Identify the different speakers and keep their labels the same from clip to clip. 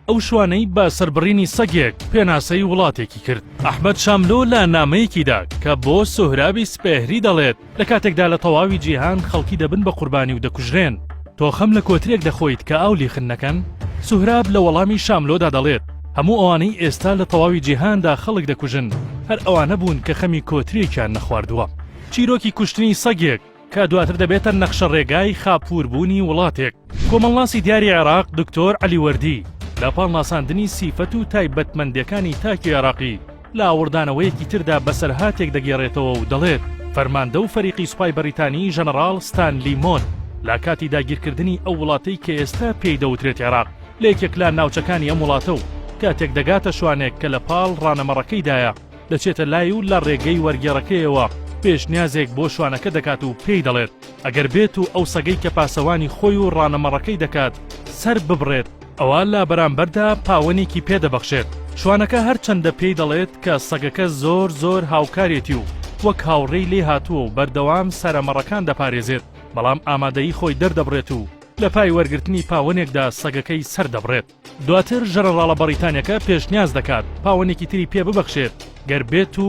Speaker 1: ئەو شوانەی بە سەربڕینی سەگێک پێناسەی وڵاتێکی کرد ئەحمد شاملۆ لە نامەیەکیدا کە بۆ سۆهرابی سپێهری دەڵێت لە کاتێکدا لە تەواوی جیهان خەڵکی دەبن بە قوربانی و دەکوژرێن تۆخەم لە کۆترێک دەخۆیت کە ئاو لیخن نەکەن سوهراب لە وەڵامی شاملۆدا دەڵێت هەموو ئەوانەی ئێستا لە تەواوی جیهاندا خەڵک دەکوژن هەر ئەوانە بوون کە خەمی کۆترێکیان نەخواردووە چیرۆکی کوشتنی سەگێک کە دواتر دەبێتە نەخشە ڕێگای خاپوور بوونی وڵاتێک. کۆمەڵناسی دیاری عێراق دکتۆر عەلی وەردی لە پاڵ ناساندنی سیفەت و تایبەتمەندێکانی تاکی عێراقی لە ئاوڕدانەوەیەکی تردا بەسەرهاتێک دەگێڕێتەوە و دەڵێت فەرماندە و فەریقی سوپای بەریتانی ژەنەڕاڵ ستانلی مۆن لە کاتی داگیرکردنی ئەو وڵاتەی کە ئێستا پێی دەوترێت عێراق لە یەکێک لە ناوچەکانی ئەم وڵاتە و کاتێک دەگاتە شوانێک کە لە پاڵ ڕانەمەڕەکەیدایە دەچێتە لای و لە ڕێگەی وەرگێڕەکەیەوە پێشنیازێک بۆ شوانەکە دەکات و پێی دەڵێت ئەگەر بێت و ئەو سەگەی کە پاسەوانی خۆی و ڕانەمەڕەکەی دەکات سەر ببڕێت، ئەوا لە بەرامبەردا پاوەنێکی پێ دەبەخشێت. شوانەکە هەرچەندە پێی دەڵێت کە سەگەکە زۆر زۆر هاوکارێتی و وەک هاوڕێی لێ هاتووە و بەردەوام سەرەمەڕەکان دەپارێزێت، بەڵام ئامادەیی خۆی دەردەبڕێت و لە پای وەرگرتنی پاوەنێکدا سەگەکەی سەر دەبڕێت. دواتر ژەنەڕاڵە بەڕیتانیەکە پێشنیاز دەکات پاوەنێکی تری پێ ببەخشێت گەر بێت و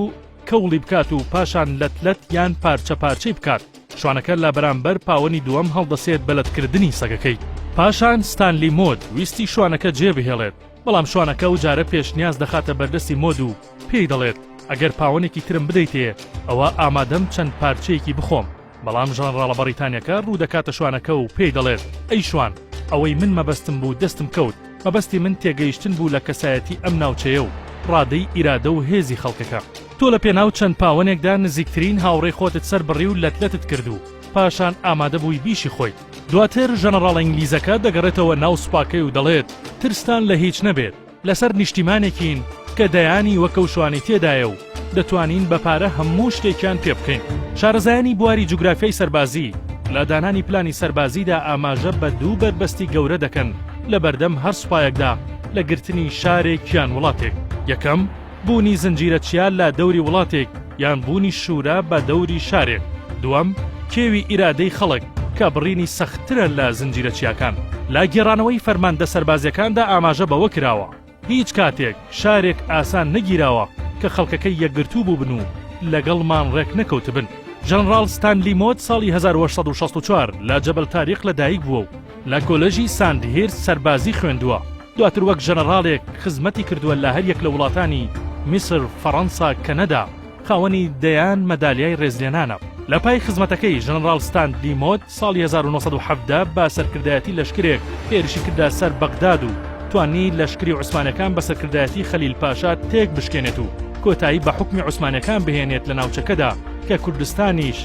Speaker 1: کەوڵی بکات و پاشان لەت لەت یان پارچە پارچەی بکات شوانەکە لە بەرامبەر پاوەنی دووەم هەڵدەسێت بە لەتکردنی سەگەکەی پاشان ستانلی مۆد ویستی شوانەکە جێ بهێڵێت بەڵام شوانەکە و جارە پێشنیاز دەخاتە بەردەستی مۆد و پێی دەڵێت ئەگەر پاوەنێکی ترم بدەیتێ ئەوا ئامادەم چەند پارچەیەکی بخۆم. بەڵام ژەنڕاڵە بەڕیتانیەکە ڕوودەکاتە شوانەکە و پێی دەڵێت، ئەی شوان، ئەوەی من مەبەستم بوو دەستم کەوت، مەبەستی من تێگەیشتن بوو لە کەسایەتی ئەم ناوچەیە و ڕادەی ئیرادە و هێزی خەڵکەکە. تۆ لە پێناو چەند پاوەنێکدا نزیکترین هاوڕێی خۆتت سەربڕی و لەت لەتت کرد و پاشان ئامادەبووی بیشی خۆیت. دواتر ژەنڕاڵە ئینگلیزەکە دەگەڕێتەوە ناو سوپاکەی و دەڵێت، ترستان لە هیچ نەبێت، لەسەر نیشتیمانێکین کە دەیانی وەک ئەو شوانەی تێدایە و دەتوانین بە پارە هەموو شتێکیان پێ بکەین. شارەزایانی بواری جوگرافیای سەربازی لە دانانی پلانی سەربازیدا ئاماژە بە دوو بەربەستی گەورە دەکەن لە بەردەم هەر سوپایەکدا لە گرتنی شارێک یان وڵاتێک، یەکەم، بوونی زنجیرە چیا لە دەوری وڵاتێک یان بوونی شورا بە دەوری شارێک. دووەم، کێوی ئیرادەی خەڵک کە بڕینی سەختترە لە زنجیرە چیاکان. لە گێڕانەوەی فەرماندە سەربازیەکاندا ئاماژە بەوە کراوە، هیچ کاتێک شارێک ئاسان نەگیراوە کە خەڵکەکەی یەکگرتوو بووبن و لەگەڵمان ڕێک نەکەوتبن. ژەنڕاڵ ستانلی مۆد ساڵی هەزار و هەشت سەد و شەست و چوار لە جەبەل تاریق لە دایک بووە و لە کۆلێژی ساندهیرست سەربازی خوێندووە. دواتر وەک ژەنەڕاڵێک خزمەتی کردووە لە هەریەک لە وڵاتانی، میسر، فەڕەنسا، کەنەدا، خاوەنی دەیان مەدالیای ڕێزلێنانە. لە پای خزمەتەکەی، ژەنەڕاڵ ستاندلی مۆد ساڵی هەزار و نۆ سەد و حەڤدە بە سەرکردایەتی لەشکرێک هێرشی کردە سەر بەغداد و توانی لەشکری عوسمانەکان بە سەرکردایەتی خەلیل پاشا تێک بشکێنێت و کۆتایی بە حوکمی عوسمانەکان بهێنێت لە ناوچەکەدا کە کوردستانیش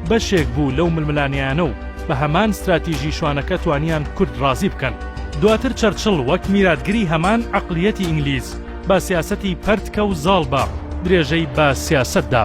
Speaker 1: بەشێک بوو لەو ململانێیانە و بە هەمان ستراتیژی شوانەکە توانیان کورد ڕازی بکەن. دواتر چەرچڵ وەک میراتگری هەمان عەقلیەتی ئینگلیز بە سیاسەتی پەرتکە و زاڵ بە درێژەی بە سیاسەت دا.